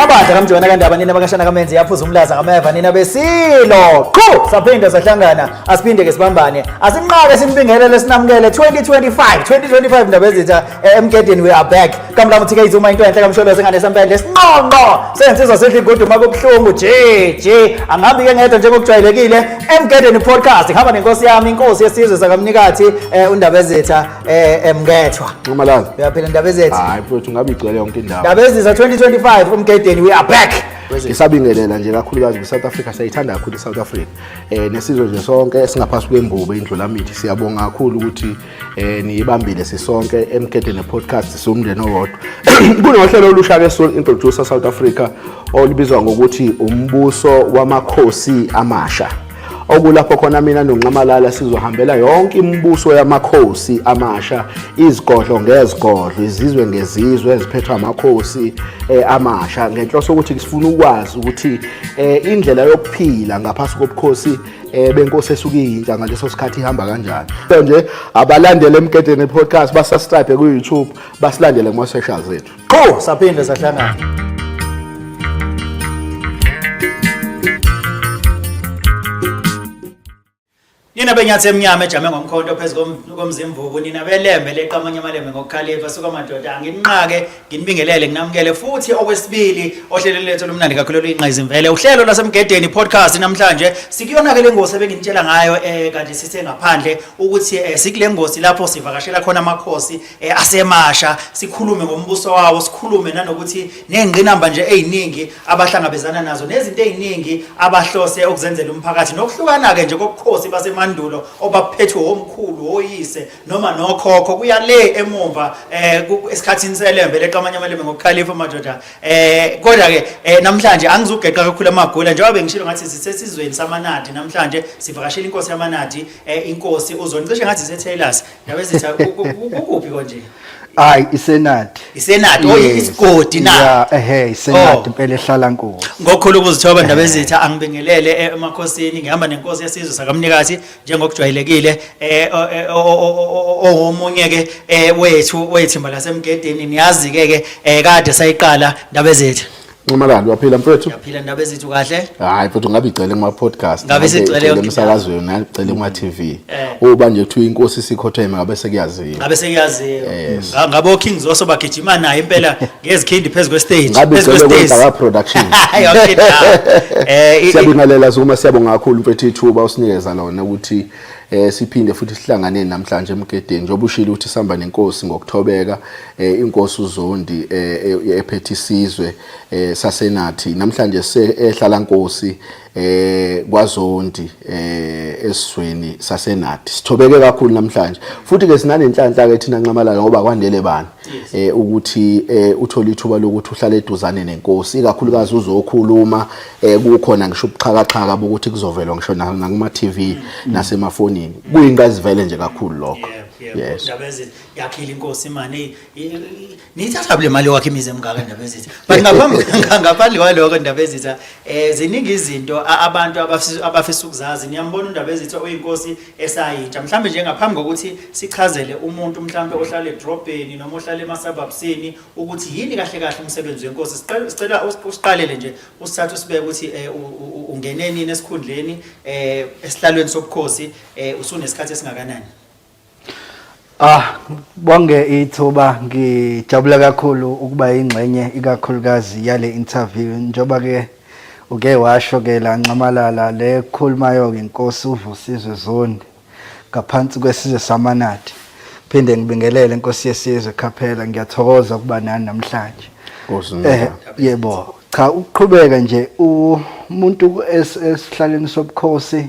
mabandla kamjona kandaba nina bakashana kamenzi yaphuza umlaza kameva nina besilo qhu saphinde sahlangana asiphinde ke sibambane asinqake simpingelele sinamukele 2025 2025 ndaba ezitha emgedeni we are back kamlamu thike izuma into enhle kamsholozi ngane sempende sinqonqo sensizwa sidla igodu uma kubuhlungu je je angihambi ke ngedwa njengokujwayelekile emgedeni podcast ngihamba nenkosi yami inkosi yesizwe sakamnikathi eh, undabezetha eh, emngethwa nxamalala uyaphila ndabezetha hayi mfowethu ngabe igcwele yonke indawo ndabezetha 2025 umgedeni we are back ngisabingelela nje kakhulukazi kwi-south africa siyayithanda kakhulu i-south africa um nesizwe nje sonke esingaphansi kwembubo indlulamithi siyabonga kakhulu ukuthi eh niyibambile sisonke emgedeni podcast siwumndeni owodwa kunohlelo olusha ke Soul Introducer South Africa olibizwa ngokuthi umbuso wamakhosi amasha okulapho khona mina noNxamalala sizohambela yonke imibuso yamakhosi amasha izigodlo ngezigodlo izizwe ngezizwe eziphethwa amakhosi eh, amasha ngenhloso ukuthi sifuna ukwazi ukuthi eh, indlela yokuphila ngaphasi kobukhosi eh benkosi esuke yintsha ngaleso sikhathi ihamba kanjani nje abalandele emgedeni podcast basascribe ku YouTube basilandele kuma socials ethu qho saphinde sahlangana Nina benyathi emnyama ejame ngomkhonto phezu komzimvubu nina belembe leqamanye amalembe ngokukhalipha suka madoda anginqake Nginibingelele nginamukele futhi okwesibili ohlelweni lethu lomnandi kakhulu oluyinqayizimvele uhlelo lasemgedeni podcast namhlanje sikuyona ke lengosi ebenginitshela ngayo eh kanti sithe ngaphandle ukuthi eh, sikule ngosi lapho sivakashela khona amakhosi eh, asemasha sikhulume ngombuso wawo sikhulume nanokuthi nezingqinamba nje eziningi abahlangabezana nazo nezinto eziningi abahlose ukuzenzela umphakathi nokuhlukana ke nje kokukhosi basemandulo obaphethwe omkhulu oyise noma nokhokho kuya le emumva eh esikhathini selembe leqa amanye amalembe ngokukhalifa madoda eh kodwa ke eh, namhlanje angizugeqa kakhulu amagula njengoba bengishilo ngathi sisesizweni samanadi namhlanje sivakashela inkosi yamanadi eh, inkosi uzonicishe ngathi seTaylors ndabe zitha kukuphi konje hayi isenati isenati oh isigodi na yeah ehe isenati oh. impela ehlala nkosi ngokhulu ukuzithoba ndaba ezitha angibingelele eh, emakhosini ngihamba nenkosi yesizwe sakamnikazi njengokujwayelekile eh omunye ke eh, wethu wethimba lasemgedeni niyazi ke ke eh, kade sayiqala ndaba ezethu Nxamalala waphila mfethu Yaphila ndaba ezethu kahle Hayi mfethu ngabe igcele kuma podcast Ngabe sigcele emsakazweni ngagcele kuma TV eh. Uba nje kuthiwa inkosi sikhotheme ngabe sekuyaziwa Ngabe sekuyaziwa Ngabo Kings oso bagijima naye impela ngezikhindi phezu kwestage ngabe phezu igcwele kwestage kodwa production yonke indawo eh i- i- siyabingelela sukuma siyabonga kakhulu mfethu ithuba usinikeza lona ukuthi eh siphinde futhi sihlangane namhlanje emgedeni njengoba ushilo ukuthi sihamba nenkosi ngokuthobeka eh inkosi uzondi eh e- ephethe isizwe eh sasenathi namhlanje se ehlala nkosi eh kwaZondi eh esizweni saseNadi sithobeke kakhulu namhlanje futhi ke sinanenhlanhla ke thina nxamalala ngoba kwandele bani eh ukuthi eh uthola ithuba lokuthi uhlale eduzane nenkosi ikakhulukazi uzokhuluma eh kukhona ngisho ubuxhakaxhaka bokuthi kuzovela ngisho nakuma TV mm. nasemafonini kuyinqazivele nje kakhulu lokho yes yakhile inkosi imani Niyithatha le mali wakhe imizi emngaka ndaba ezitha. But ngaphambi ngaphandle kwaloko ndaba ezitha eh ziningi izinto a- abantu abafisa abafisa ukuzazi. Niyambona undaba ezitha oyinkosi esayitsha. Mhlambe nje ngaphambi kokuthi sichazele umuntu mhlambe ohlala edrobheni noma ohlala emasababsini ukuthi yini kahle kahle umsebenzi wenkosi. Sicela sicela us- usiqalele nje usithathe usibeke ukuthi eh, u- u- u- ungene nini esikhundleni eh esihlalweni sobukhosi eh usunesikhathi esingakanani. Ah bonge ithuba ngijabula kakhulu ukuba ingxenye ikakhulukazi yale interview njoba ke uke washo ke la nxamalala le khulumayo ke inkosi uvusizwe zondi ngaphansi kwesizwe samanadi phinde ngibingelele inkosi yesizwe khaphela ngiyathokoza ukuba nani namhlanje eh yebo cha ukuqhubeka nje umuntu esihlaleni sobukhosi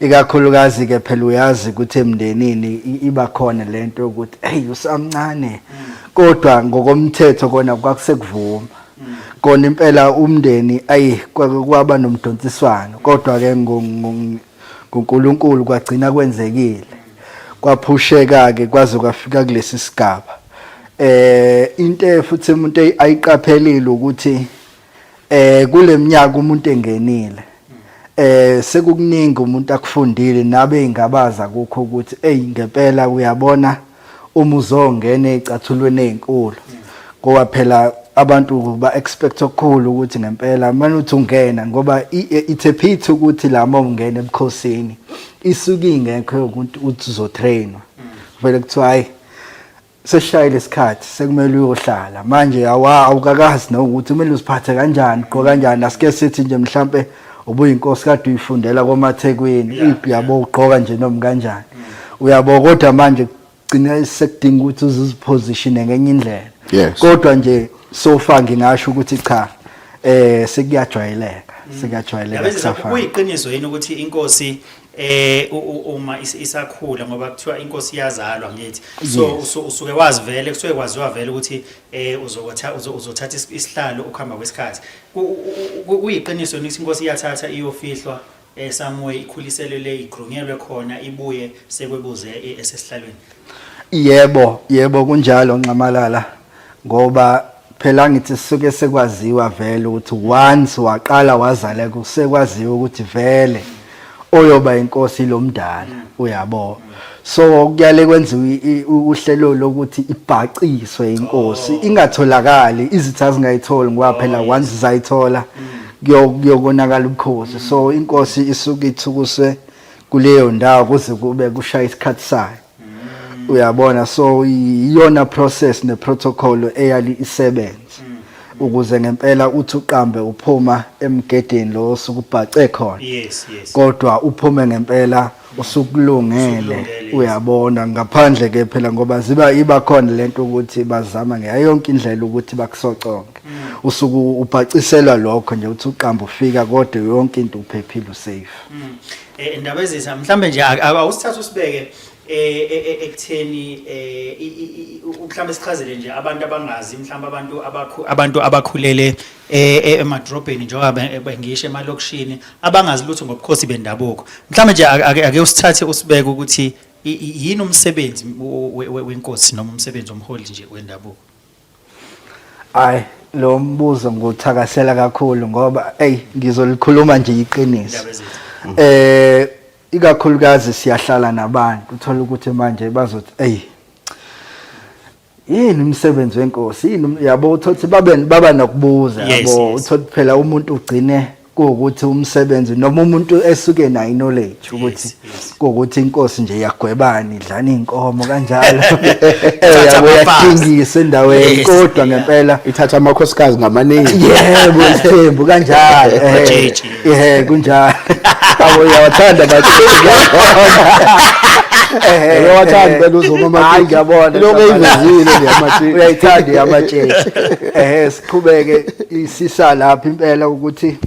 ikakhulukazi ke phela uyazi ukuthi emndenini iba khona lento yokuthi hey usamncane kodwa ngokomthetho kona kwakusekuvuma kona impela umndeni ayi kwaba nomdonsiswano kodwa ke ngoNkulunkulu kwagcina kwenzekile kwaphusheka ke kwaze kwafika kulesi sigaba eh into futhi umuntu ayiqaphelile ukuthi eh kuleminyaka umuntu engenile eh sekukuningi umuntu akufundile nabe ingabaza kukho ukuthi hey ngempela uyabona uma uzongena ezicathulweni ezinkulu ngoba phela abantu ba expect okukhulu ukuthi ngempela manje uthi ungena ngoba it's a pity ukuthi la mom ungena ebukhosini isuke ingekho ukuthi uthi uzotrainwa vele kuthiwa hayi sesishayile isikhathi sekumele uyohlala manje awa awukakazi nokuthi kumele uziphathe kanjani gqoka kanjani asike sithi nje mhlampe ubuyinkosi kade uyifundela komathekwini ipi yabo ugqoka nje noma kanjani uyabo kodwa manje gcina sekudinga ukuthi uzizipositione ngenye indlela kodwa nje sofa ngingasho ukuthi cha eh sekuyajwayeleka sekuyajwayeleka kusafana kuyiqiniso yini ukuthi inkosi eh uma isakhula ngoba kuthiwa inkosi iyazalwa ngithi so usuke wazi vele kusuke kwaziwa vele ukuthi eh uzokutha uzothatha isihlalo ukuhamba kwesikhathi kuyiqiniso ukuthi inkosi iyathatha iyofihlwa eh somewhere ikhuliselele igrunyelwe khona ibuye sekwebuze e, esesihlalweni yebo yebo kunjalo nxamalala ngoba phela ngithi sisuke sekwaziwa vele ukuthi once waqala wazala kusekwaziwa ukuthi vele oyoba inkosi lomdala uyabo so kuyale kwenziwa uhlelo lokuthi ibhaciswe inkosi ingatholakali izitha zingayitholi ngoba phela once zayithola kuyokonakala ubukhosi so inkosi isuke ithukuswe kuleyo ndawo kuze kube kushaya isikhathi sayo uyabona so iyona process ne protocol eyali isebenze ukuze ngempela uthi uqambe uphuma emgedeni lo sukubhace khona yes yes kodwa uphume ngempela usukulungele uyabona ngaphandle ke phela ngoba ziba iba khona lento ukuthi bazama ngayo yonke indlela ukuthi bakusoconke mm. usuku ubhaciselwa lokho nje uthi uqamba ufika kodwa yonke into uphephile usafe mm. Eh, indaba ezisa mhlambe nje awusithatha usibeke eh, eh, ekutheni mhlambe sichazele nje abantu abangazi mhlambe abantu abantu abakhulele emadrobheni njengoba bengisho emalokishini abangazi lutho ngobukhosi bendabuko mhlambe nje ake usithathe usibeke ukuthi yini umsebenzi wenkosi noma umsebenzi omholi nje wendabuko Ay lo mbuzo nguthakasela kakhulu ngoba ey ngizolikhuluma nje iqiniso. Eh ikakhulukazi siyahlala nabantu uthola ukuthi manje bazothi ey yini umsebenzi wenkosi yini um, yabo uthothi babe baba nokubuza yabo uthothi phela umuntu ugcine kuwukuthi umsebenzi noma umuntu esuke nayo knowledge ukuthi kuwukuthi inkosi nje yagwebani idlana inkomo kanjalo uyathingisa endaweni kodwa ngempela ithatha amakhosikazi ngamaningi yebo ithembu kanjalo eh, eh kunjalo abo yawathanda bathi uyawathanda eh, phela uzuma amatshiki yabona lokho eyivezile nje amatshiki uyayithanda amatshiki eh qhubeke isisa lapha impela ukuthi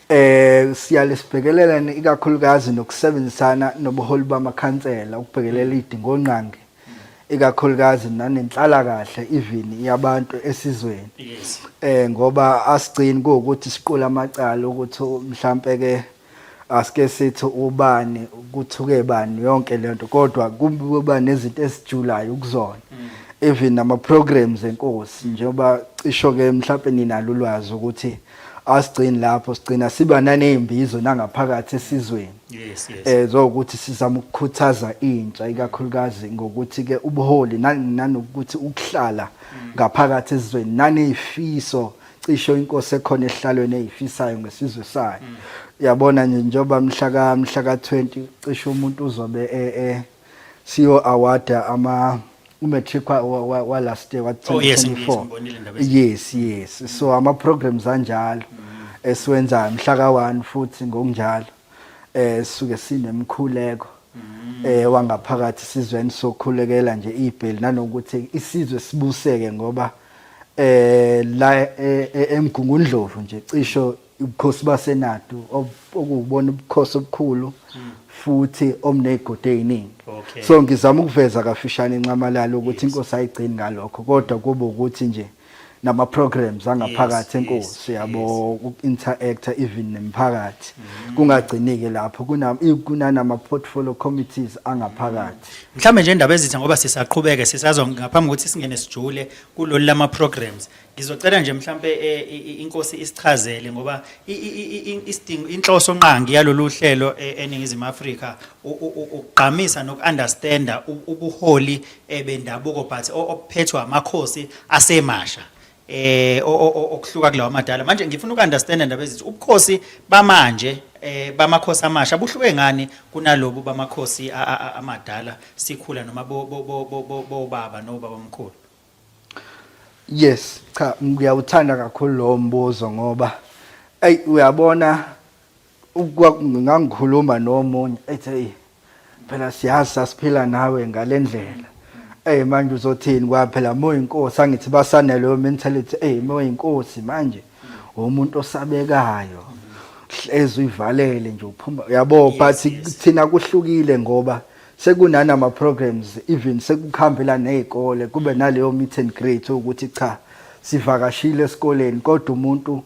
eh siyalesibhekelelana ikakhulukazi nokusebenzisana nobuholi bamakhansela ukubhekelela idingongqangi ikakhulukazi nanenhlala kahle even yabantu esizweni eh ngoba asigcini ukuthi siqula amacala ukuthi mhlambe ke asike sithi ubani kuthuke bani yonke lento kodwa kuba nezinto esijulayo kuzona mm. even ama programs enkosi njengoba cisho ke mhlawumbe ninalo ulwazi ukuthi asigcini lapho sigcina siba nanezimbizo nangaphakathi esizweni yes yes eh zokuthi sizama ukukhuthaza intsha ikakhulukazi ngokuthi ke ubuholi nanokuthi ukuhlala mm. ngaphakathi esizweni nanezifiso cisho inkosi ekhona ehlalweni eyifisayo ngesizwe sayo mm. yabona nje njengoba mhla ka mhla ka20 cisho umuntu uzobe e, e siyo award ama umatric wa last year wa 2024 yes yes so ama programs anjalo mm. esiwenzayo mhla ka1 futhi ngokunjalo eh suke sinemkhuleko mm. eh wangaphakathi sizweni sokhulekela nje ibheli nanokuthi isizwe sibuseke ngoba eh la eh, eh, emgungundlovu nje cisho ubukhosi basenadu okubona ubukhosi obukhulu futhi omnezigodi eziningi so ngizama ukuveza kafishane incamalalo ukuthi inkosi ayigcini ngalokho kodwa kube ukuthi nje nama programs angaphakathi enkosi yabo uku-interactor even nemphakathi mm. kungagcinike lapho kunanama portfolio committees angaphakathi Mhlawumbe nje indaba ezitha ngoba sisaqhubeke sisazwa ngaphambi kokuthi singene sijule kulolu lama programs. Ngizocela nje mhlawumbe eh, i- i- inkosi isichazele ngoba i- i- i- i- isidingo inhloso nqangi yalolu hlelo eh, eningizimu Afrika u- u- u- ukugqamisa nokunderstanda u- ubuholi eh, bendabuko but o- obuphethwe amakhosi asemasha. eh okuhluka kulawa madala manje ngifuna ukunderstand ndaba ezithi ubukhosi bamanje eh bamakhosi amasha buhluke ngani kunalobu bamakhosi amadala sikhula noma bo bo bo bo baba no baba omkhulu yes cha ngiyawuthanda kakhulu lo mbuzo ngoba ay uyabona ngangikhuluma nomunye ethi eyi phela siyazi sasiphila nawe ngale ndlela eyi manje uzothini kwa phela moyinkosi angithi basaneleyo mentality eyi moyinkosi manje umuntu osabekayo hlezi uyivalele nje uphuma yabo but thina kuhlukile ngoba sekunani ama programs even sekukhambela nezikole kube naleyo meet and greet ukuthi cha sivakashile esikoleni kodwa umuntu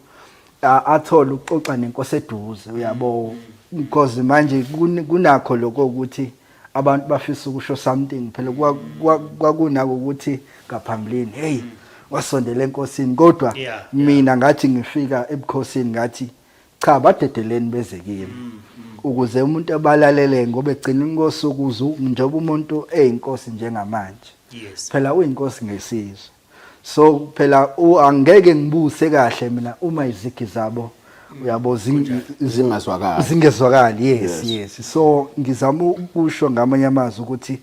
athole ukuxoxa nenkosi eduze uyabo because manje kunakho lokho ukuthi abantu bafisa ukusho something phela kwakunako ukuthi ngaphambilini hey wasondela enkosini kodwa mina ngathi ngifika ebukhosini ngathi cha badedeleni beze kimi mm, mm. ukuze umuntu abalalele ngoba egcina inkosi ukuzu njengoba umuntu eyinkosi njengamanje phela uyinkosi ngesizwe so phela u- angeke ngibuse kahle mina uma izigi zabo uyabo zing- zingazwakali zingezwakali yes yes so ngizama ukusho ngamanye amazwi ukuthi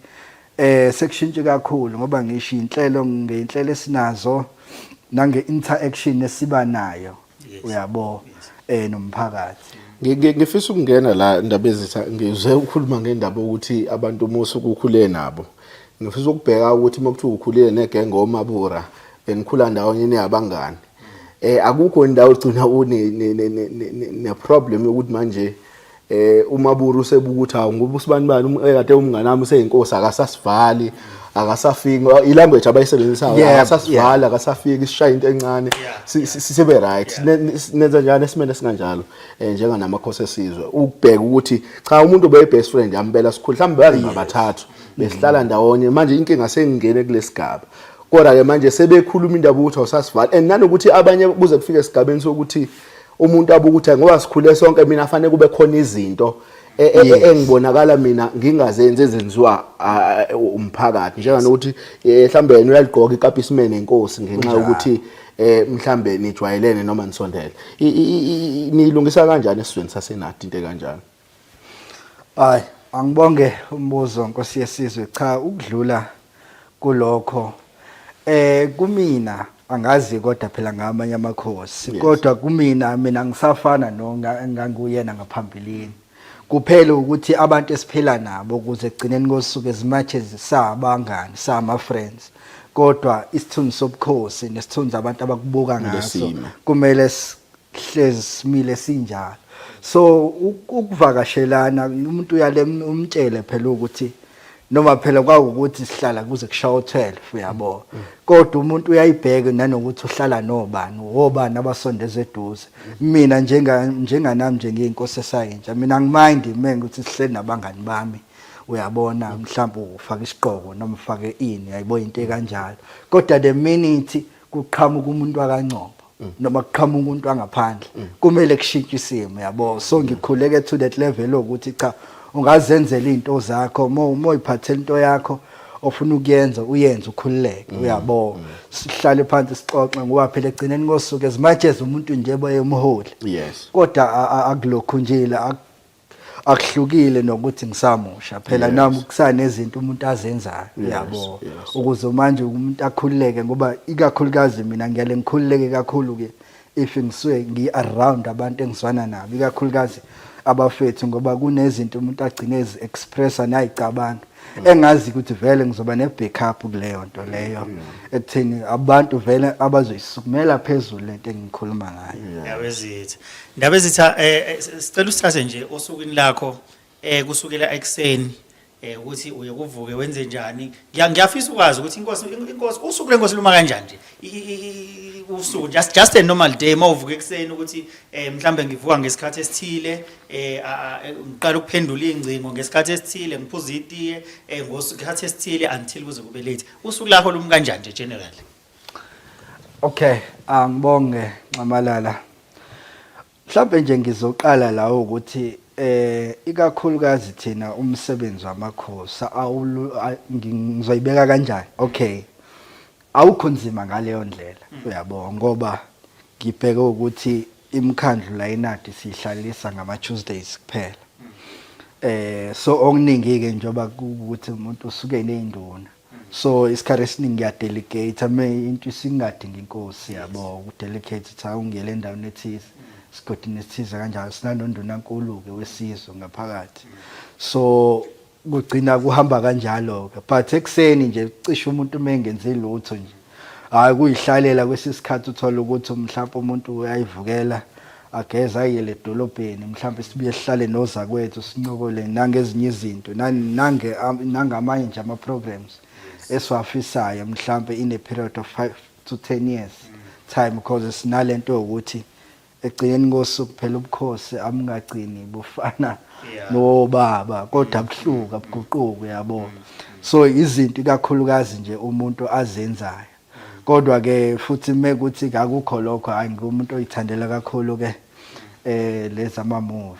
eh sekushintshe kakhulu ngoba ngisho inhlelo ngeinhlelo esinazo nange interaction esiba nayo uyabo eh nomphakathi ngifisa ukungena la indaba ezitha ngize ukhuluma ngendaba ukuthi abantu umusa ukukhule nabo ngifisa ukubheka ukuthi uma kuthiwa ukhulile negenge omabura benikhula ndawonye niyabangani eh akukho indawo ogcina une ne problem yokuthi manje eh uMaburu usebuka ukuthi hawu ngoba usibani bani um, eh, kade umngane wami useyinkosi akasasivali akasafiki ilanguage abayisebenzisayo Yeah, akasasivali akasafiki sishaya into encane si- si- sibe right Ne- ne- nenza njani esimene singanjalo eh njenga namakhosi esizwe ukubheka ukuthi cha umuntu obe best friend yampela sikhulu mhlawumbe bazi ngabathathu besihlala ndawonye manje inkinga sengingene kulesigaba kodwa ke manje sebekhuluma indaba ukuthi awusasivali and nanokuthi abanye kuze kufike esigabeni sokuthi umuntu abuka ukuthi ngoba sikhule sonke mina fanele kube khona izinto e, e, e, engibonakala mina ngingazenzi ezenziwa umphakathi njenganokuthi mhlawumbe yena uyaligqoka ikapi isimene inkosi ngenxa yokuthi eh mhlambe nijwayelene noma nisondele nilungisa kanjani esizweni sasenati into kanjani Ay angibonge umbuzo Nkosi yesizwe cha ukudlula kulokho eh kumina angazi kodwa phela ngamanye amakhosi kodwa kumina mina ngisafana no nganguyena ngaphambilini kuphela ukuthi abantu esiphila nabo ukuze egcineni kosuku as much as sabangani sama friends kodwa isithunzi sobukhosi nesithunzi abantu abakubuka ngaso kumele hlezi simile sinjalo so ukuvakashelana umuntu uyale umtshele phela ukuthi noma phela kwawukuthi sihlala kuze kushawa u12 uyabo kodwa umuntu uyayibheka nanokuthi uhlala nobani wobani abasondeza eduze mina njenga njenganami nje ngiyinkosi esayintsha mina ngimind mina ukuthi sihleli nabangani bami uyabona mhlawumbe ufaka isiqoko noma ufake ini yayibo into ekanjalo kodwa the minute kuqhamuka umuntu wakancombo noma kuqhamuka umuntu wangaphandle kumele kushintshe isimo yabo so ngikhuleke to that level ukuthi cha ungazenzela izinto zakho uma uma uyiphathela into yakho ofuna ukuyenza uyenze ukhululeke mm. uyabo mm. sihlale phansi sixoxe ngoba phela egcineni kosuku as much as umuntu nje bayemholi yes kodwa akulokhu nje la akuhlukile nokuthi ngisamusha phela yes. nami kusanezinto umuntu azenzayo uyabo yes, yes. ukuze manje umuntu akhululeke ngoba ikakhulukazi mina ngiyale ngikhululeke kakhulu ke if ngisuke ngi around abantu engizwana nabo ikakhulukazi abafethu ngoba kunezinto umuntu agcine ezi expressa nayicabanga mm. engazi ukuthi vele ngizoba ne backup kuleyo nto leyo mm. ekutheni abantu vele abazoyisukumela phezulu lento engikhuluma ngayo yawezithi Ndabezitha eh, eh sicela usithathe nje osukwini lakho eh kusukela ekseni eh ukuthi uye kuvuke wenze njani Ngiya- ngiyafisa ukwazi ukuthi inkosi inkosi usuku lenkosi luma kanjani nje I- i- i- usuku just just a normal day mawuvuka ekseni ukuthi eh mhlambe ngivuka ngesikhathi esithile eh a- a- eh, ngiqala ukuphendula ingcingo ngesikhathi esithile ngiphuza itiye eh ngosikhathi esithile until kuze kube late usuku lakho lumi kanjani nje generally Okay, angibonge ah, Nxamalala. Mhlawumbe nje ngizoqala la ukuthi eh ikakhulukazi thina umsebenzi wamakhosi ngizoyibeka kanjani? Okay. Awukho nzima ngaleyo ndlela. Mm. Uyabo ngoba ngibheke ukuthi imkhandlu la inadi sihlalisa ngama Tuesdays kuphela. Mm. Eh so okuningi ke njoba ukuthi umuntu usuke nezinduna. so isikhathi esiningi ngiyadelegate me into isingadingi inkosi yabo ukudelegate ukuthi awungele endaweni ethize sigodini esithize kanjalo sinanondunankulu-ke wesizwe ngaphakathi so kugcina kuhamba kanjalo-ke but ekuseni nje cishe umuntu uma engenzi lutho nje hayi kuyihlalela kwesinye isikhathi uthole ukuthi mhlawumpe umuntu uyayivukela ageze ayele edolobheni mhlawumpe sibuye sihlale nozakwethu sincokole nangezinye izinto nange nangamanye nje ama-programs esiwafisayo mhlawumpe in a period of five to ten years time because sinale nto yokuthi ekugcineni kosuku phela ubukhosi abungagcini bufana nobaba kodwa abuhluka abuguquki yabo so izinto ikakhulukazi nje umuntu azenzayo kodwa ke futhi mekuthi akukho lokho hayi ngumuntu oyithandela kakhulu ke eh lezama movie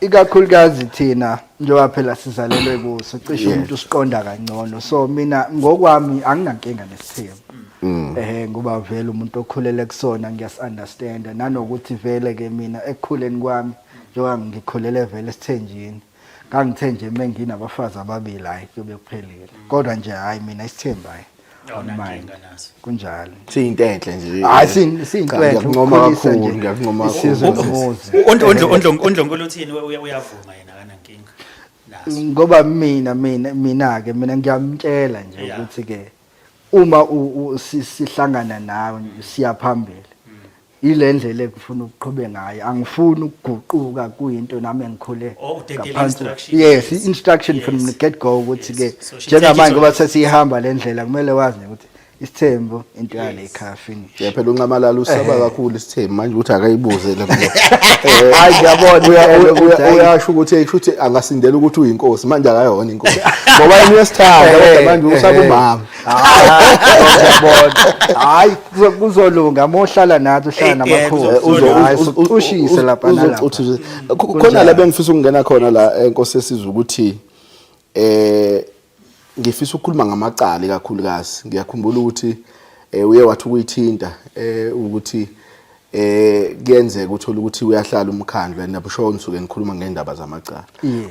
ikakhulukazi thina njengoba phela sizalelwe kuso cishe umuntu usiqonda kangcono so mina ngokwami anginankinga nesithembu mm. eh ngoba vele umuntu okhulele kusona ngiyas-understand nanokuthi vele ke mina ekukhuleni kwami njengoba ngikhulele vele esithenjini ngangithe nje uma nginabafazi ababili hhayi kuyobe kuphelile kodwa nje hhayi mina isithembu hhayi kunjalo siyinto enhle nje hayi siyinto enhle ngiyakuncoma kakhulu ngiyakuncoma kakhulu ondlonkulu uthini uyavuma yena kanankinga ngoba mina mina mina ke mina ngiyamtshela nje ukuthi ke uma sihlangana nawe siyaphambili yile ndlela ekufuna ukuqhube ngayo angifuni ukuguquka kuyinto nami engikhule Oh, udedelwe ngaphansi instruction. yes i-instruction from Yes. the get go ukuthi ke Yes. So she njengamanje take it ngoba on. sesiyihamba le ndlela kumele wazi nje ukuthi isithembu into yale ekhaya finish Yeah, phela unxamalala usaba kakhulu isithembu manje ukuthi akayibuze le mbuzo. Eh, Hayi, ngiyabona uya- impela uya- ukuthi uya- hayi. uyasho ukuthi hey shuthi angasindela ukuthi uyinkosi manje akayona inkosi. Ngoba yena uyasithanda Eh, kodwa manje eh, usaba eh. umama. hayi kuzolunga mohlala nathi uhlala namakhulu ushise lapha nalapha khona la bengifisa ukungena khona la enkosi esizwe ukuthi eh ngifisa ukukhuluma ngamacala kakhulukazi ngiyakhumbula ukuthi eh, uye wathi ukuyithinta eh ukuthi eh kuyenzeka uthola ukuthi uyahlala umkhandlu and nabusho ngisuke ngikhuluma ngendaba zamacala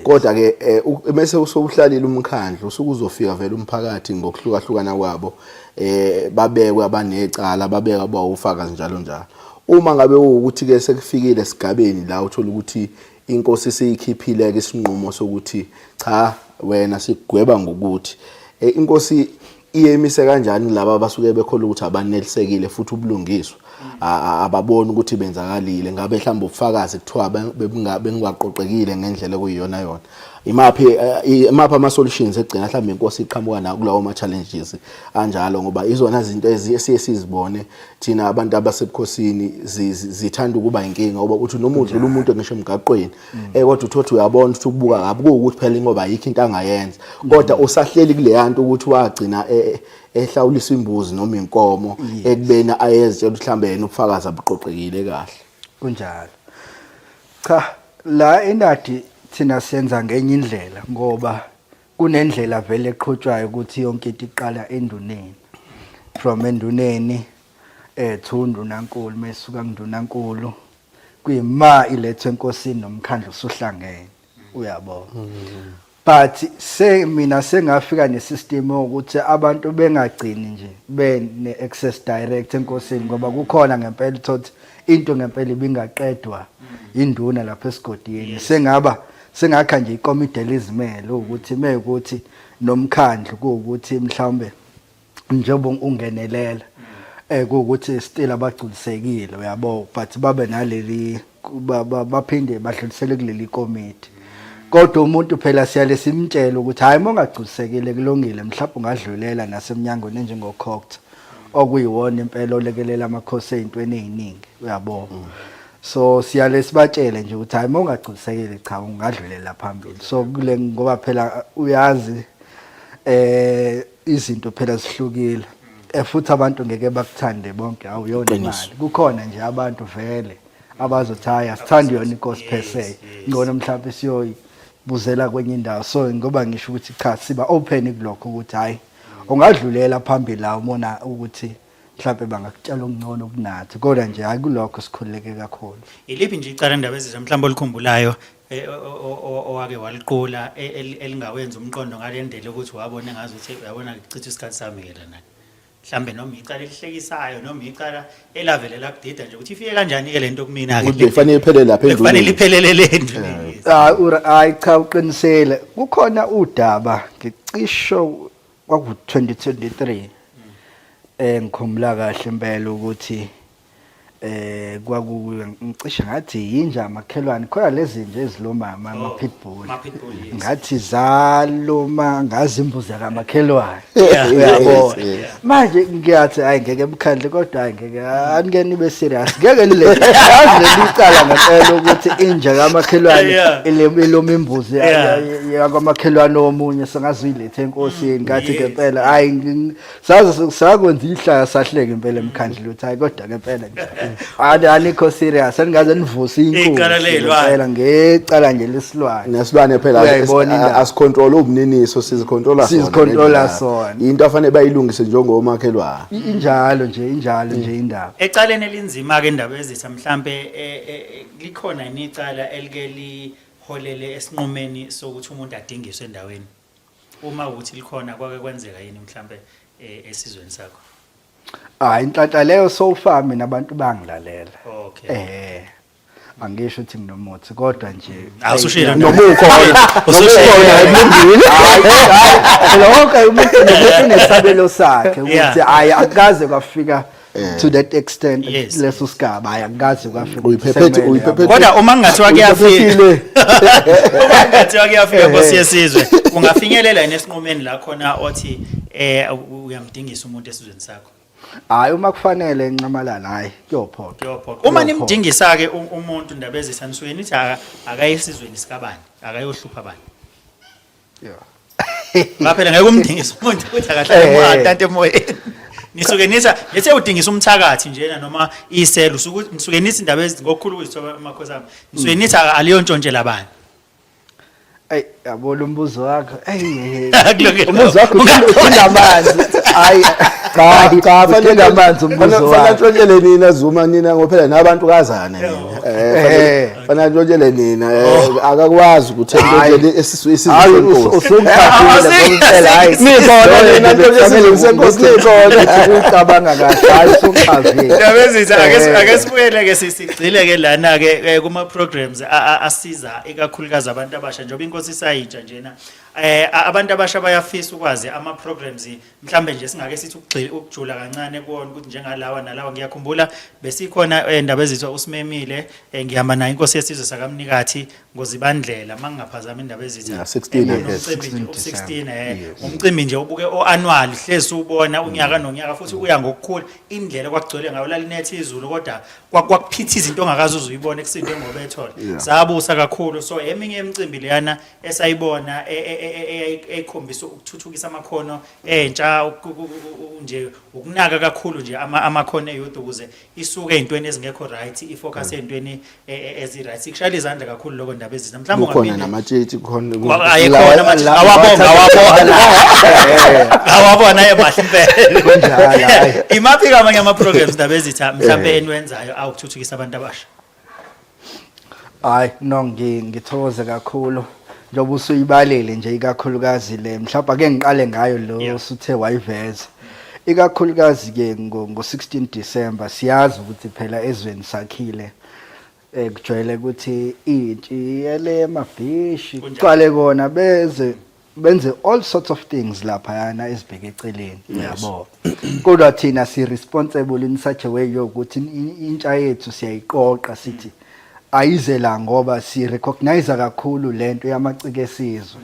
kodwa ke eh, mase usokuhlalile umkhandlu usuke uzofika vele umphakathi ngokuhlukahlukana kwabo eh babekwe abanecala babeka abawufakazi njalo njalo uma ngabe ukuthi ke sekufikile esigabeni la uthola ukuthi inkosi seyikhiphile ke isinqumo sokuthi cha wena sigweba ngokuthi eh, inkosi iyemise kanjani laba abasuke bekhola ukuthi abanelisekile futhi ubulungiswa ababoni ukuthi benzakalile ngabe mhlawumbe ubufakazi kuthiwa bengingaqoqekile ngendlela okuyiyona yona imaphi eh, imaphi ama solutions egcina mhlawumbe inkosi iqhamuka nawo kulawo ma challenges anjalo ngoba izona izinto esiye sizibone thina abantu abasebukhosini zithanda ukuba inkinga ngoba uthi noma udlula umuntu ngisho emgaqweni eh kodwa uthothi uyabona ukuthi ukubuka kabi kuwukuthi phela ingoba ayikho into angayenza kodwa usahleli kule yanto ukuthi wagcina e, e, ehlawulisa imbuzi noma inkomo ekubeni ayezitshela ukuthi mhlambe yena ubufakazi abuqoqekile kahle kunjalo cha la inadi thina senza ngenye indlela ngoba kunendlela vele eqhutshwayo ukuthi yonke into iqala enduneni from enduneni eh thundu nankulu mesuka kundunankulu kuyima ilethwe enkosini nomkhandlu usuhlangene uyabo but se mina sengafika nesystem ukuthi abantu bengagcini nje bene access direct enkosini ngoba kukhona ngempela thothi into ngempela ibingaqedwa induna lapha esigodini sengaba sengakha nje ikomidi elizimele ukuthi mekuthi nomkhandlu ukuthi mhlawumbe njengoba ungenelela eh ukuthi still abagculisekile uyabo but babe naleli baphinde badlulisele kuleli committee kodwa umuntu phela siyale simtshela ukuthi hayi mongagculisekile kulungile mhlawumbe ungadlulela nasemnyangweni enjengokhokta okuyiwona impela olekelela amakhosi ezintweni eziningi uyabo mm. so siyale sibatshele nje ukuthi hayi mongagculisekile cha ungadlulela phambili so kule ngoba phela uyazi eh izinto phela zihlukile eh, futhi abantu ngeke bakuthande bonke awuyona imali kukhona nje abantu vele abazothi hhayi asithandi yona inkosi per se ngcono mhlawumpe siyoyibuzela kwenye indawo so ngoba ngisho ukuthi cha siba open kulokho ukuthi hhayi ungadlulela phambili la umona ukuthi mhlawumbe bangakutshela okungcono kunathi kodwa nje hayi kulokho sikhululeke kakhulu iliphi nje icala ndaba ezizwe mhlawumbe olikhumbulayo eh, o- o- o- owake waliqula e- el- elingawenza umqondo ngalendlela ukuthi wabona ngazi ukuthi yabona ngichitha isikhathi sami ke lana mhlawumbe noma icala elihlekisayo noma icala elavele lakudida nje ukuthi ifike kanjani ke lento kumina Ukuthi bekufanele iphele lapha bekufanele endlini. iphelele lento Ah, ura- hayi cha uqinisele kukhona udaba ngicisho kwaku-2023 eh ngikhumula kahle impela ukuthi eh kwakukuyo ngicishe ngathi yinja amakhelwane khona lezi nje ezilomama ama oh, pitbull ngathi zaloma ngazi imbuzi kamakhelwane uyabo manje ngiyathi hayi ngeke emkhandle kodwa hayi ngeke anike nibe serious ngeke le yazi lelicala ngempela ukuthi inja kamakhelwane iloma imbuzi yakamakhelwane omunye sengazi enkosini ngathi ke phela hayi ngi- saze sakwenza ihlaya sahleke impela emkhandlu lutho hayi kodwa ke phela nje ani anikho serious aningaze nivuse inkunzi Icala leyilwane. phela ngecala nje lesilwane nesilwane phela Uyayibona indaba. asicontrol ubuniniso sizicontrola sona Sizicontrola ngendaba. sona. into afanele bayilungise njengomakhelwane I- injalo nje injalo nje indaba Ecaleni elinzima-ke indaba ezitha mhlampe eh, eh, likhona yini icala elike li holele esinqumeni sokuthi umuntu adingiswe endaweni uma ukuthi likhona kwake kwenzeka yini mhlambe eh, esizweni sakho ah inhlanhla leyo so far mina abantu bangilalela okay eh angisho ukuthi nginomuthi kodwa nje awusushilo nomukho usushilo ayibindile lokho umuntu unesabelo sakhe ukuthi ayi akaze kwafika Eh. to that extent yes. leso sigaba hayi angikazi kwafika uyiphephethe uyiphephethe kodwa uma ngathiwa kuyafika uma ngathiwa kuyafika eh. nkosi yesizwe ungafinyelela yini esinqumeni la khona othi eh uyamdingisa umuntu esizweni sakho hayi uma kufanele ncamalala hayi kuyophoqa kuyophoqa uma nimdingisa ke umuntu ndabezisa nisweni ithi akayesizweni sikabani akayohlupha bani ngaphela ngeke umdingise umuntu ukuthi akahlale Eh. mwatate emoyeni nisuke nisa nithe udingisa umthakathi njena noma iselo usuke nisuke nithi indaba ezi ngokukhulu kuzithoba amakhosi ami nisuke nithi aka- aliyo ntshontshela bani Ayi yabo lo mbuzo wakho. Ayi. Kulungile. Umbuzo wakho uthinta amanzi. Hayi. Hayi, uthinta amanzi umbuzo wakho. Fanele nina Zuma nina ngophela nabantu kazana nina. Eh, fanele- Eh. Fana ntshotshele nina eh, oh. akakwazi ukuthi ntshotshele esisu isizwe hayi usungithathile ngomthela hayi nikhona nina ntshotshele ngisenkosi nikhona ucabanga kahle hayi usuchazile yabezitha ake eh. ake sibuyele ke sigcile ke lana ke eh, kuma programs asiza ikakhulukazi abantu abasha njengoba inkosi isayitsha njena eh abantu abasha bayafisa ukwazi ama programs mhlambe nje singake sithi ukugxila ukujula kancane kuona ukuthi njengalawa nalawa ngiyakhumbula besikhona endaba eh, ezithiwa usimemile eh, ngihamba naye inkosi yesizwe sakamnikathi ngozibandlela mangingaphazama indaba ezithi yeah, 16 16 eh umcimbi nje ubuke oannual hlezi ubona unyaka mm. nonyaka futhi uya ngokukhula indlela kwakugcwele ngayo lalinethe izulu kodwa kwakuphitha izinto ongakazi uzuyibona ekusinde ngoba ethole sabusa kakhulu so eminye imicimbi leyana esayibona e, e, e, eyikhombisa ukuthuthukisa amakhono entsha nje ukunaka kakhulu nje amakhono eyodwa ukuze isuke ezintweni ezingekho right ifocus mm. ezintweni ezi right sikushayela izandla kakhulu lokho ndaba ezina mhlawumbe ungaphinde namatshitshi khona awakhona awabonga awabona awabona emahle impela kunjalo imaphi kamanye ama programs ndaba ezitha mhlawumbe eh. eniwenzayo awukuthuthukisa abantu abasha hayi no ngithokoze kakhulu njengoba usuyibalile nje ikakhulukazi le mhlawumbe ake ngiqale ngayo lo usuthe wayiveza ikakhulukazi ke ngo-16 December siyazi ukuthi phela ezweni sakhile eh kujwayele ukuthi intshi yele mabhishi kuqale kona beze benze all sorts of things lapha yana ezibheke eceleni yabo kodwa thina si responsible in such a way yokuthi intsha yethu siyayiqoqa sithi ayize la ngoba si recognize kakhulu lento yamacike esizwe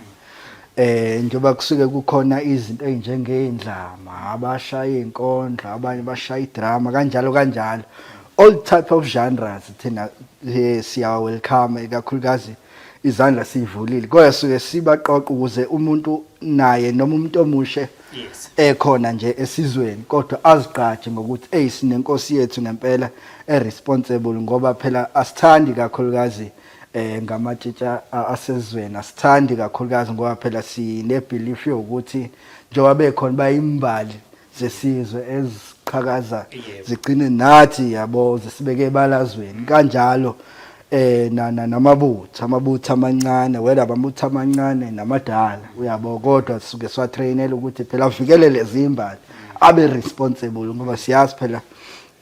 eh njoba kusuke kukhona izinto ezinjengeindlama abashaya inkondlo abanye bashaya idrama kanjalo kanjalo all type of genres thina eh, siya welcome ikakhulukazi izandla siyivulile kodwa suke sibaqoqa ukuze umuntu naye noma umuntu omushe yes ekhona nje esizweni kodwa azigqaje ngokuthi hey sinenkosi yethu ngempela eresponsible ngoba phela asithandi kakhulukazi eh ngamatshitsha asezweni asithandi kakhulukazi ngoba phela sine belief yokuthi njengoba bekhona bayimbali zesizwe eziqhakaza zigcine nathi yabo zisibeke ebalazweni kanjalo eh nana namabutha amabutha amancane wena amabutha amancane namadala uyabo kodwa sisuke swa trainela ukuthi phela uvikele lezimbali abe responsible ngoba siyazi phela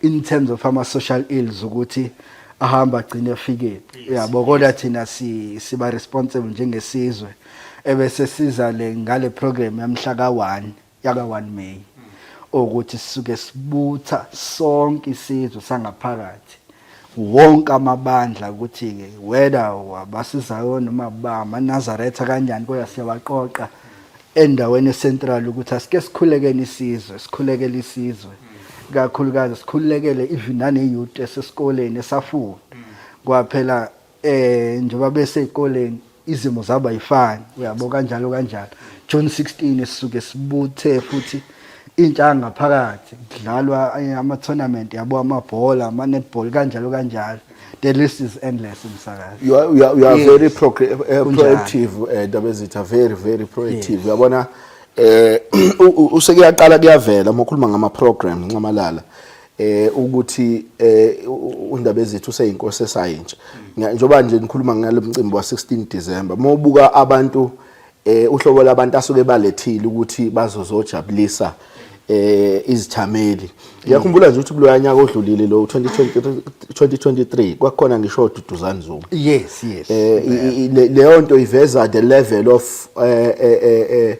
in terms of ama social ills ukuthi ahamba agcine efike uyabo kodwa thina si siba responsible njengesizwe ebese siza le ngale program yamhla ka1 yaka-1 May ukuthi sisuke sibutha sonke isizwe sangaphakathi wonke amabandla ukuthi-ke whether abasizayo noma bamanazaretha kanjani kodwa siyabaqoqa endaweni esentral ukuthi asike sikhulekeni isizwe sikhulekele isizwe kakhulukazi sikhulekele even naneyouth esesikoleni esafunda kwaphela eh njengoba bese ezikoleni izimo zaba yifani uyabo kanjalo kanjalo June 16 sisuke sibuthe futhi intsha ngaphakathi kudlalwa eh, ama tournament yabo amabhola ama netball kanjalo kanjalo the list is endless msakazi you are, you are, you are yes. very pro, uh, proactive eh, ndaba uh, ezitha very very proactive yes. uyabona eh useke yaqala kuyavela uma ukhuluma ngama program nxamalala eh ukuthi eh uNdabezithi useyinkosi esayintsha njengoba nje nikhuluma ngalo mcimbi wa 16 December mobuka abantu eh uhlobo labantu asuke balethile ukuthi bazozojabulisa eh izithameli ngiyakhumbula nje ukuthi kuloya nyaka odlulile lo 2023 2023 kwakhona ngisho ududuzani zuma yes yes eh, leyo nto iveza the level of eh, eh, eh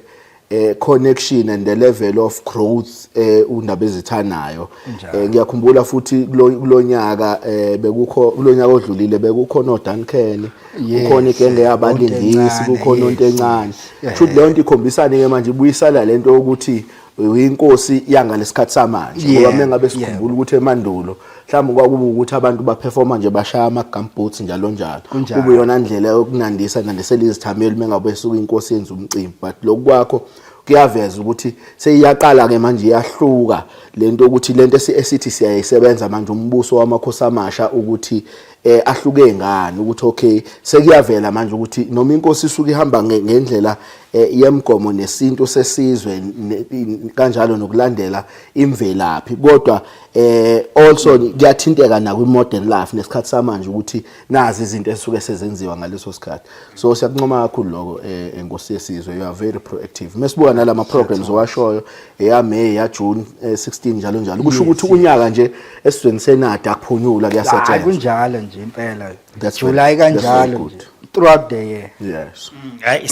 eh connection and the level of growth eh undaba ezithanayo eh ngiyakhumbula futhi kulonyaka eh bekukho kulonyaka odlulile bekukhona oDuncan kukhona igenge yabalingisi kukhona onto encane futhi leyo nto ikhombisana ke manje ibuyisala lento ukuthi uyinkosi yangalesikhathi samanje ngoba mengabe sikhumbula ukuthi emandulo mhlawumbe kwakuba ukuthi abantu baperforma nje bashaya ama-gumboots njalo njalo Kunjalo. kube yona ndlela yokunandisa nandisela izithameli uma ngabe suke inkosi yenza umcimbi but lokhu kwakho kuyaveza ukuthi seyiyaqala-ke manje iyahluka le nto ukuthi le nto esi- esithi siyayisebenza manje umbuso wamakhosi amasha ukuthi um ahluke ngani ukuthi okay sekuyavela manje ukuthi noma inkosi isuke ihamba nge- ngendlela um yemgomo nesintu sesizwe ne- in- kanjalo nokulandela imvelaphi kodwa eh also kuyathinteka na kwi modern life nesikhathi samanje ukuthi nazi izinto esuke sezenziwa ngaleso sikhathi so siyakuncoma kakhulu lokho eh enkosi yesizwe you are very proactive mesibuka nalama programs owashoyo eya May ya June 16 eh, njalo njalo kusho ukuthi unyaka nje esizweni senada akuphunyula kuyasetshenzwa hayi kunjalo nje impela July kanjalo throughout the year yes mm, hayi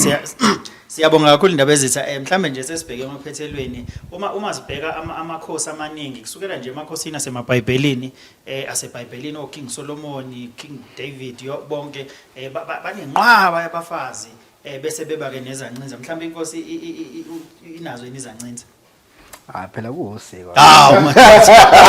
Siyabonga kakhulu indaba ezitha eh mhlambe nje sesibheke emaphethelweni uma uma sibheka ama- amakhosi amaningi kusukela nje emakhosini asemabhayibhelini eh asebhayibhelini o King Solomon King David yo bonke eh ba- ba- banenqwaba yabafazi eh bese beba ke nezancinza mhlambe inkosi i- i- i- i- inazo yini izancinza Ah phela kuwusiko. Hawu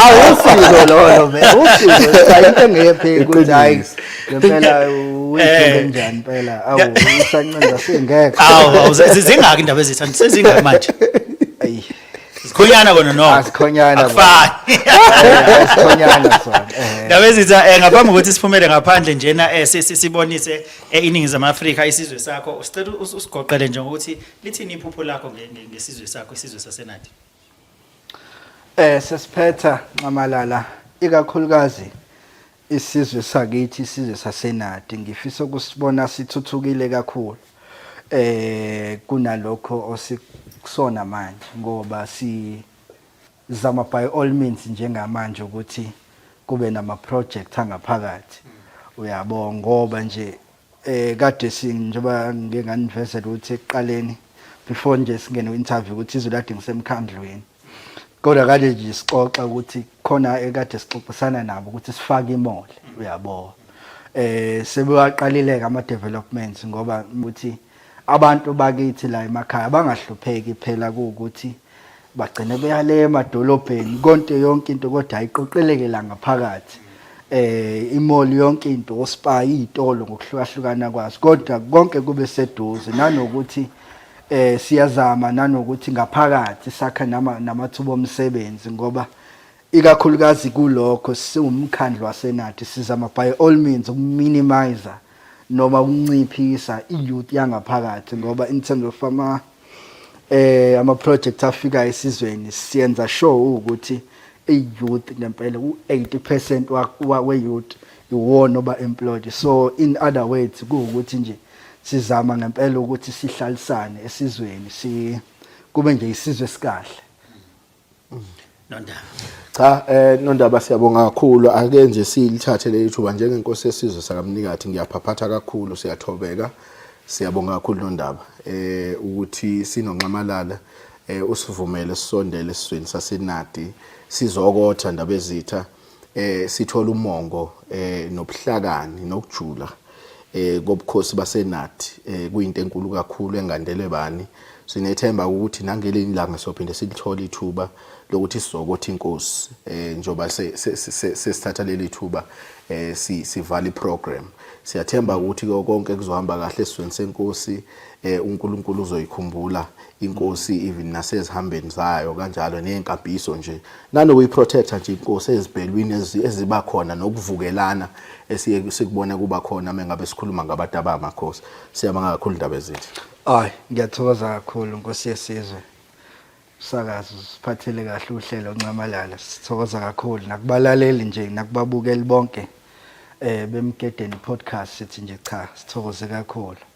awusiko lolo be usiko cha into engepheli ukuthi hayi ngempela uyithenga eh. njani phela awu usancenza singeke. Awu zingaki indaba ezithanda sezingaki manje. Ayi Sikhonyana kona no. Asikhonyana. Ah, Akufani. Asikhonyana sona. Eh. Ndaba ezitha eh, ngaphambi kokuthi siphumele ngaphandle njena eh, sibonise iningizimu Afrika isizwe sakho. Usicela usigoqele nje ukuthi Lithini iphupho lakho nge- nge- ngesizwe sakho isizwe saseNadi? Eh sesiphetha nxamalala ikakhulukazi isizwe sakithi isizwe sasenadi ngifisa ukusibona sithuthukile kakhulu eh kunalokho osikusona manje ngoba si Zama by all means njengamanje ukuthi kube nama project angaphakathi. Uyabo ngoba nje eh kade sing njengoba ngike nganivezela ukuthi ekuqaleni before nje singene interview ukuthi izulu kade ngisemkhandlweni. Kodwa kade nje sixoxa ukuthi khona ekade sixoxisana nabo ukuthi sifake imole uyabo. Eh sebewaqalileka ama developments ngoba ukuthi Abantu bakithi la emakhaya bangahlupheki phela kuwukuthi bagcine beyale emadolobheni konke yonke into kodwa ayiqoqeleke la ngaphakathi eh imoli yonke into ospa izitolo ngokuhlukahlukana kwazo kodwa konke kube seduze nanokuthi eh siyazama nanokuthi ngaphakathi sakha nama namathuba omsebenzi ngoba ikakhulukazi kulokho siwumkhandlu wasenathi sizama by all means ukuminimizer noma ukunciphisa i-youth yangaphakathi ngoba in terms of ama eh ama projects afika esizweni siyenza sure ukuthi i-youth ngempela u-80% we-youth iwona oba employed so in other words kuwukuthi nje sizama ngempela ukuthi sihlalisane esizweni si kube nje isizwe sikahle Nondaba. Cha eh Nondaba siyabonga kakhulu ake nje silithathe leli thuba njengenkosi yesizwe sakamnikathi ngiyaphaphatha kakhulu siyathobeka siyabonga kakhulu Nondaba eh ukuthi sinonxamalala eh usivumele sisondele esizweni sasenadi sizokotha ndaba ezitha eh sithola umongo eh nobuhlakani nokujula eh kobukhosi basenathi eh kuyinto enkulu kakhulu engandelwe bani sinethemba ukuthi nangelinye ilanga sophinde silithola ithuba lokuthi sizokothi inkosi eh njoba sesithatha leli thuba eh sivala iprogram siyathemba ukuthi konke kuzohamba kahle esizweni senkosi eh uNkulunkulu uzoyikhumbula inkosi even nasezihambeni zayo kanjalo neyenkambiso nje nanokuyiprotector nje inkosi ezibhelwini eziba khona nokuvukelana esiye sikubona kuba khona mengabe sikhuluma ngabantu abamakhosi siyabanga kakhulu indaba ezithi ay ngiyathokoza kakhulu nkosi yesizwe sakazi usiphathele kahle uhlelo ncamalala sithokoza kakhulu nakubalaleli nje nakubabukeli bonke eh bemgedeni podcast sithi nje cha sithokoze kakhulu